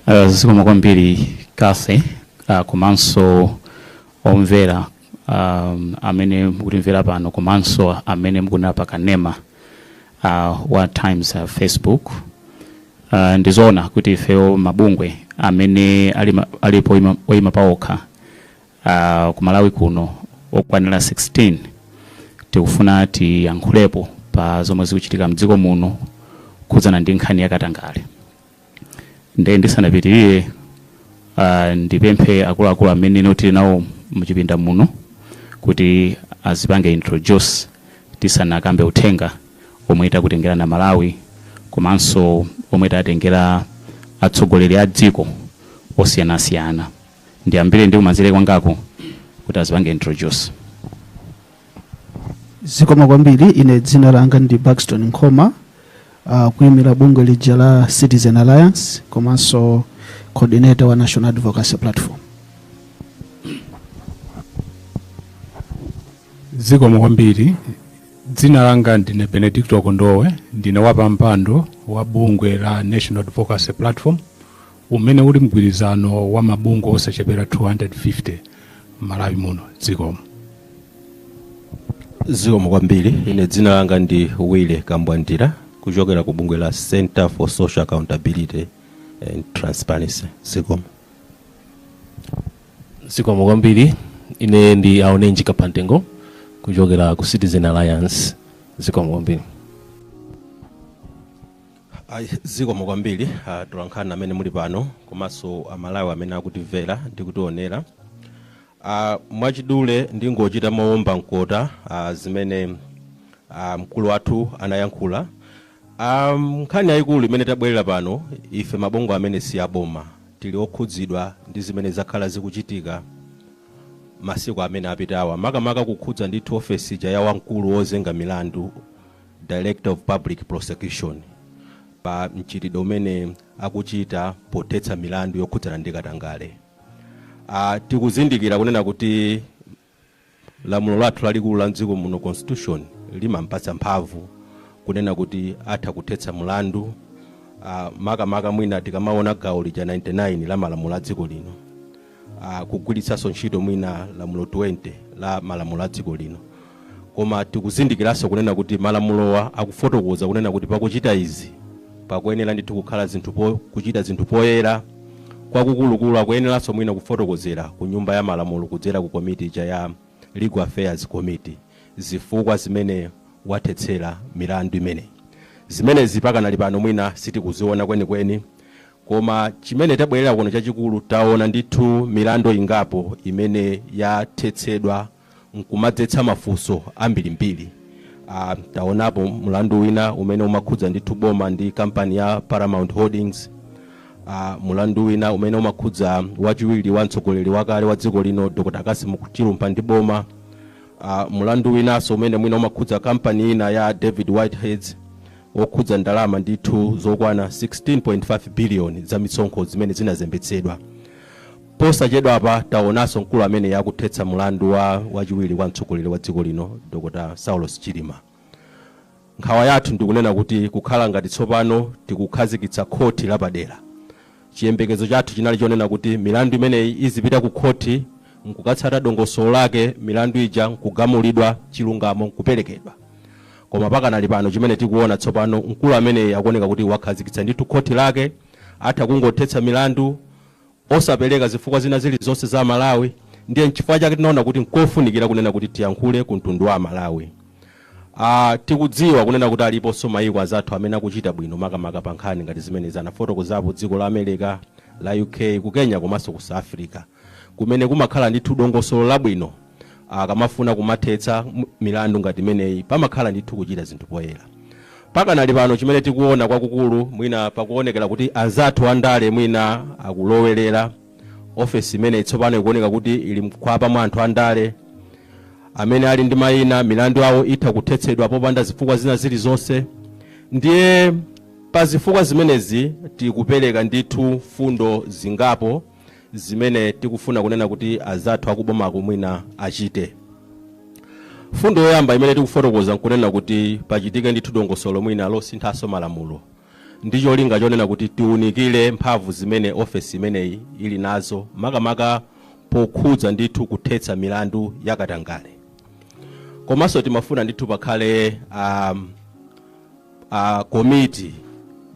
Uh, zikomo kwambiri kathy uh, komanso omvera um, amene mukutimvera pano komanso amene mukuonera pa kanema uh, wa times uh, facebook uh, ndizoona kuti ifeyo mabungwe amene ali ma- alipo ima- oyima paokha uh, ku malawi kuno okwanira 16 tikufuna tiyankhulepo pa zomwe zikuchitika mdziko muno zokhudzana ndi nkhani yakatangale nde ndisanapitirire ah, ndipemphe akuluakulu amene no tili nawo muchipinda muno kuti azipange introduce tisanakambe uthenga omwe takutengerani amalawi komanso omwe tatengera atsogoleri a dziko osiyanasiyana ndiyambire ndi kumanzere kwangako kuti azipange introduce zikomo kwambiri ine dzina langa ndi baxton nkhoma uh, kuyimira bungwe lija la citizen alliance komanso coordinator wa national advocacy platform zikomo kwambiri dzina langa ndine benedicto kondowe ndine wapampando wa bungwe la national advocacy platform umene uli mgwirizano wa mabungwe osachepera 250 m'malawi muno zikomo zikomo kwambiri ine dzina langa ndi willy kambwandira kuchokera ku bungwe la center for social accountability and transparency zikomo zikomo kwambiri ine ndi aonenji kaphantengo kuchokera ku citizen alliance zikomo kwambiri Ayi zikomo kwambiri atolankhani amene muli pano komanso a Malawi amene akutimvera ndi kutionera. A mwachidule ndingochita mowomba mkota zimene a mkulu wathu anayankhula. A nkhani yayikulu imene tabwerera pano ife mabungwe amene si a boma tili okhudzidwa ndi zimene zakhala zikuchitika masiku amene apitawa makamaka kukhudza ndithu ofesi ija ya wamkulu wozenga milandu Director of Public Prosecution, pa mchitidwe umene akuchita pothetsa milandu yokhudzana ndi katangale. A, tikuzindikira kunena kuti lamulo lathu lalikulu la mdziko muno, Constitution, limampatsa mphamvu kunena kuti atha kuthetsa mlandu a, makamaka mwina tikamaona gawo lija 99 la malamulo a dziko lino. a, kugwiritsanso ntchito mwina lamulo 20 la malamulo a dziko lino koma tikuzindikiranso kunena kuti malamulowa akufotokoza kunena kuti pakuchita izi pakuyenera ndithu kukhala zinthu po, kuchita zinthu poyera kwakukulukulu akuyeneranso mwina kufotokozera ku nyumba ya malamulo kudzera ku komiti ija ya legal affairs committee zifukwa zimene wathetsera milandu imeneyi zimenezi pakanali pano mwina sitikuziona kwenikweni Koma chimene tabwerera kuno chachikulu, taona ndithu milandu ingapo imene yathetsedwa nkumadzetsa mafunso ambirimbiri. A, taonapo mulandu wina umene umakhudza ndithu boma ndi kampani ya Paramount Holdings, a, mulandu wina umene umakhudza wachiwiri wa mtsogoleri wakale wa dziko lino Dr. Cassim Chilumpha ndi boma, a, mulandu winanso umene mwina umakhudza kampani ina ya David Whiteheads, wokhudza ndalama ndithu zokwana 16.5 biliyoni za misonkho zimene zinazembetsedwa. Posachedwapa taonanso mkulu ameneyu akuthetsa mulandu wa wachiwiri kwa mtsogoleri wa dziko lino Dr Saulos Chilima. Nkhawa yathu ndi kunena kuti kukhala ngati tsopano tikukhazikitsa khoti lapadera. Chiyembekezo chathu chinali chonena kuti milandu imeneyi izipita ku khoti n'kukatsata dongosolo lake, milandu ija n'kugamulidwa, chilungamo n'kuperekedwa. Koma pakanali pano chimene tikuona tsopano, mkulu ameneyi akuoneka kuti wakhazikitsa ndithu khoti lake, atha kungothetsa milandu osapereka zifukwa zina zilizonse kwa Amalawi. Ndiye n'chifukwa chake tinaona kuti n'kofunikira kunena kuti tiyankhule ku mtundu wa Amalawi. Aaa tikudziwa kunena kuti aliponso mayiko azathu amene akuchita bwino makamaka pa nkhani ngati zimenezi tafotokozapo dziko la America, la UK, ku Kenya komanso ku South Africa kumene kumakhala ndithu dongosolo labwino akamafuna kumathetsa milandu ngati imeneyi pamakhala ndithu kuchita zinthu poyera. Pakanali pano chimene tikuona kwakukulu mwina pakuonekera kuti anzathu andale mwina akulowelera. ofesi imeneyi tsopano ikuoneka kuti ili mkhwapa mwa anthu andale amene ali ndi mayina milandu yawo itha kuthetsedwa popanda zifukwa zina zilizonse ndiye pa zifukwa zimenezi tikupereka ndithu fundo zingapo zimene tikufuna kunena kuti azathu akubomako mwina achite fundo yoyamba imene tikufotokoza nkunena kuti pachitike ndithu dongosolo mwina losinthanso malamulo ndi cholinga chonena kuti tiunikire mphamvu zimene ofesi imeneyi ili nazo makamaka pokhudza ndithu kuthetsa milandu ya katangale komanso timafuna ndithu pakhale um, uh, komiti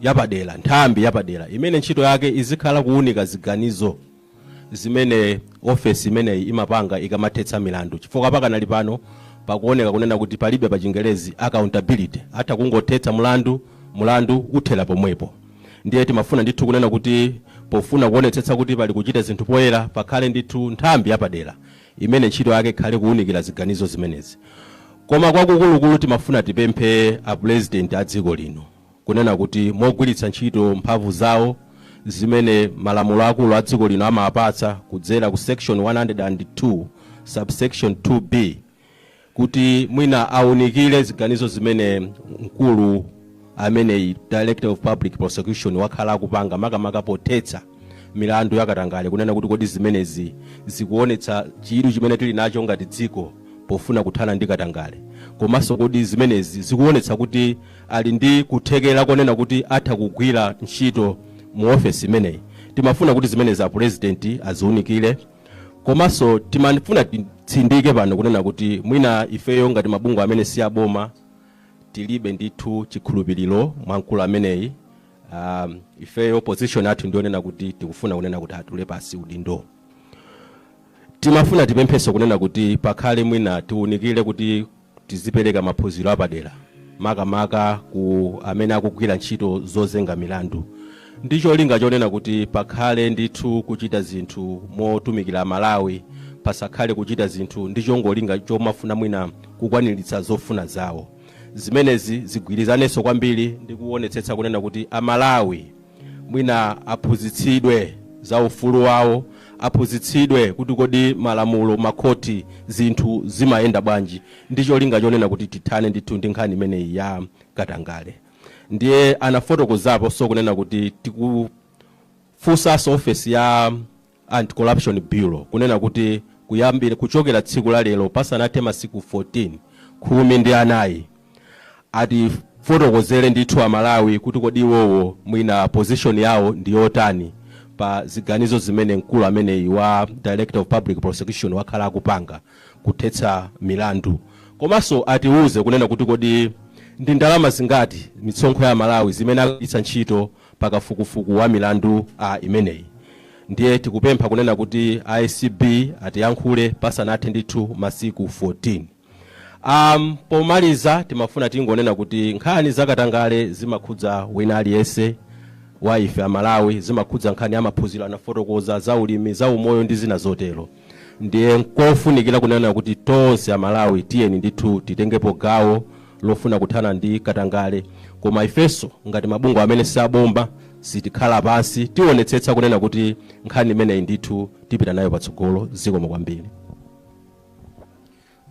yapadera nthambi yapadera imene ntchito yake izikhala kuunika ziganizo zimene ofesi imeneyi imapanga ikamathetsa milandu chifukwa pakanali pano pakuoneka kunena kuti palibe pa chingelezi accountability atha kungothetsa mulandu mulandu uthera pomwepo ndiye timafuna ndithu kunena kuti pofuna kuonetsetsa kuti pali kuchita zinthu poyera pakhale ndithu nthambi yapadera imene ntchito yake ikhale kuunikira ziganizo zimenezi koma kwakukulukulu timafuna tipemphe a president a dziko lino kunena kuti mogwiritsa ntchito mphamvu zawo zimene malamulo akulu a dziko lino amapatsa kudzera ku section 102 subsection 2b kuti mwina aunikire ziganizo zimene mkulu ameneyi director of public prosecution wakhala akupanga makamaka pothetsa milandu yakatangale kunena kuti kodi zimenezi zikuonetsa chidwi chimene tili nacho ngati dziko pofuna kuthana ndi katangale komanso kodi zimenezi zikuonetsa kuti ali ndi kuthekera konena kuti atha kugwira ntchito mu ofesi imeneyi. Timafuna kuti zimenezi a president aziunikire komanso timafuna titsindike pano kunena kuti mwina ifeyo ngati mabungwe amene si aboma tilibe ndithu chikhulupiriro mwa mkulu ameneyi. Um, ifeyo position yathu ndiyonena kuti tikufuna kunena kuti atule pasi udindo timafuna tipempheso kunena kuti pakhale mwina tiunikire kuti Tizipereka maphunziro apadera makamaka kwa amene akugwira ntchito zozenga milandu ndi cholinga chonena kuti pakhale ndithu kuchita zinthu motumikira Amalawi, pasakhale kuchita zinthu ndi chongolinga chomafuna mwina kukwaniritsa zofuna zawo. Zimenezi zigwirizanenso kwambiri ndi kuonetsetsa kunena kuti Amalawi. mwina aphunzitsidwe za ufulu wawo, aphunzitsidwe kuti kodi malamulo, makhoti, zinthu zimayenda bwanji ndi cholinga chonena kuti tithane ndithu ndi nkhani imeneyi ya katangale. Ndiye anafotokozaponso kunena kuti tikufunsanso ofesi ya Anti-Corruption Bureau, kunena kuti kuyambira, kuchokera tsiku la lero pasanathe masiku 14, khumi ndi anayi, atifotokozere ndithu Amalawi kuti kodi iwowo mwina position yawo ndi yotani pa ziganizo zimene mkulu ameneyi wa Director of Public Prosecution wakhala akupanga kuthetsa milandu. Komanso atiuze kunena kuti kodi ndi ndalama zingati mitsonkho ya Amalawi zimene akugwiritsa ntchito pa kafukufuku wa milandu imeneyi. Ndiye tikupempha kunena kuti a acb atiyankhule pasanathe ndithu masiku 14. Am, pomaliza timafuna tingonena kuti nkhani za katangale zimakhudza wina aliyense wa ife Amalawi, zimakhudza nkhani ya maphunziro, anafotokoza, za ulimi, za umoyo ndi zina zotero. Ndiye nkofunikira kunena kuti tonse Amalawi tiyeni ndithu titengepo gawo lofuna kuthana ndi katangale koma ifenso ngati mabungwe amene saboma sitikhala pansi tionetsetsa kunena kuti nkhani imeneyi ndithu tipita nayo patsogolo. Zikomo kwambiri.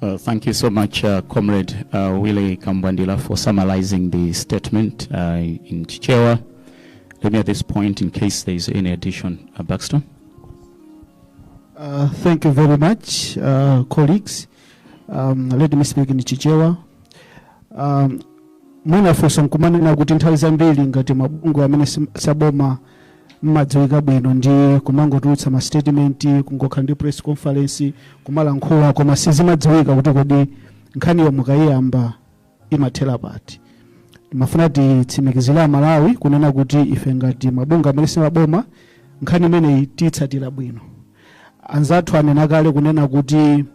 Uh, thank you so much, uh, Comrade uh, Willie Kambwandila, for summarizing the statement uh, in Chichewa. Let me at this point, in case there is any addition, uh, Baxter. Uh, thank you very much, uh, colleagues. Um, let me speak in Chichewa. Um, mwina funso nkumanena kuti nthawi zambiri ngati mabungwe amene sim- saboma mmadziwika bwino ndi kumangotulutsa ma statement kungokhala ndi press conference kumalankhula koma sizimadziwika kuti kodi nkhaniyo mukayiyamba imathera pati timafuna titsimikizire amalawi kunena kuti ife ngati mabungwe amene si aboma nkhani imeneyi tiyitsatira bwino anzathu anena kale kunena kuti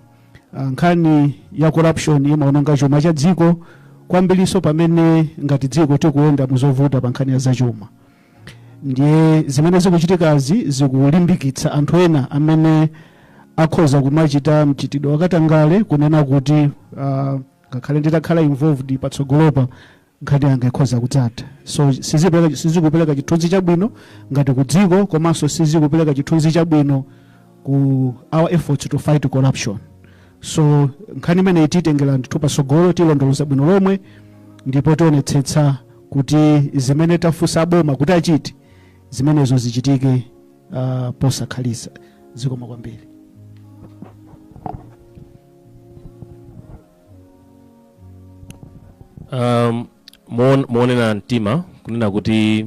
ah, nkhani ya corruption imaononga chuma cha dziko kwambiriso pamene ngati dziko tikuyenda muzovuta pa nkhani ya zachuma ndiye zimene zikuchitikazi zikulimbikitsa anthu ena amene akhoza kumachita mchitidwe wakatangale kunena kuti ah, ngakhale nditakhala involved patsogolopa nkhani yanga ikhoza kudzatha so sizipereka- sizikupereka chithunzi chabwino ngati ku dziko komanso sizikupereka chithunzi chabwino ku our efforts to fight corruption so nkhani imeneyi tiyitengera ndithu patsogolo tilondoloza bwino lomwe ndipo tionetsetsa kuti zimene tafunsa boma kuti achite zimenezo zichitike uh, posakhalitsa zikomo kwambiri um, moon- moonena mtima kunena kuti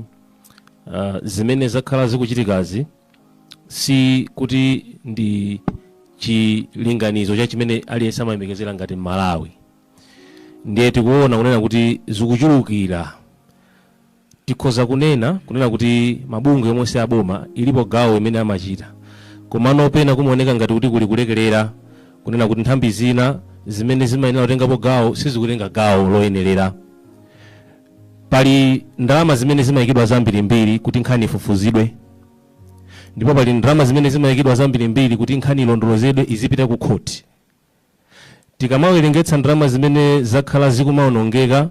uh, zimene zakhala zikuchitikazi si kuti ndi chilinganizo cha chimene aliyense amayembekezera ngati mmalawi ndiye tikuona kunena kuti zikuchulukira tikhoza kunena kunena kuti mabungwe omwe si aboma ilipo gawo imene amachita komano pena kumaoneka ngati kuti kuli kulekerera kunena kuti nthambi zina zimene zimayenera kutengapo gawo sizikutenga gawo loyenerera Pali ndalama zimene zimayikidwa zambirimbiri kuti nkhani ifufuzidwe ndipo pali ndalama zimene zimayikidwa zambirimbiri kuti nkhani ilondolozedwe izipita ku khoti. Tikamawerengetsa ndalama zimene zakhala zikumawonongeka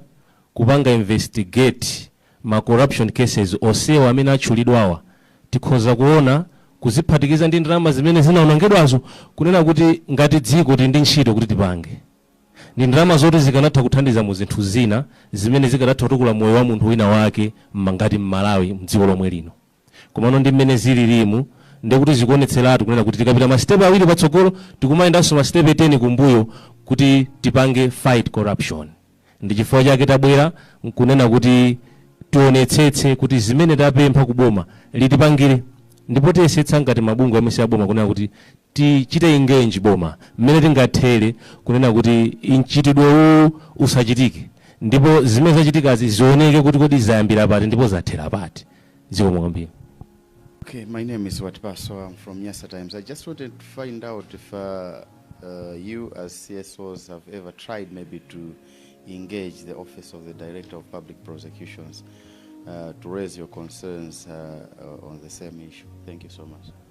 kupanga investigate ma corruption cases onsewa amene atchulidwawa, tikhoza kuona kuziphatikiza ndi ndalama zimene zinawonongedwazo kunena kuti ngati dziko tili ndi ntchito kuti tipange. Ndi ndalama zoti zikanatha kuthandiza mu zinthu zina zimene zikadatha kutukula moyo wa munthu wina wake mma ngati mMalawi mdziko lomwe lino. Komano ndi mmene zililimu ndiye kuti zikuonetseratu kunena kuti tikapita ma step awiri patsogolo tikumayendanso ma step 10 kumbuyo kuti tipange fight corruption. Ndi chifukwa chake tabwera nkunena kuti tionetsetse kuti zimene tapempha ku boma litipangire ndipo tiyesetsa ngati mabungwe omwe si aboma kunena kuti Tichite engage boma mmene tingathere kunena kuti mchitidwe uwu usachitike ndipo zimene zachitikazi zioneke kuti kodi zayambira pati ndipo zathera pati. Zikomo kwambiri. Okay, my name is Watipaso. I'm from Nyasa Times. I just wanted to find out if uh, uh, you, as CSOs, have ever tried maybe to engage the Office of the Director of Public Prosecutions uh, to raise your concerns uh, uh, on the same issue. Thank you so much.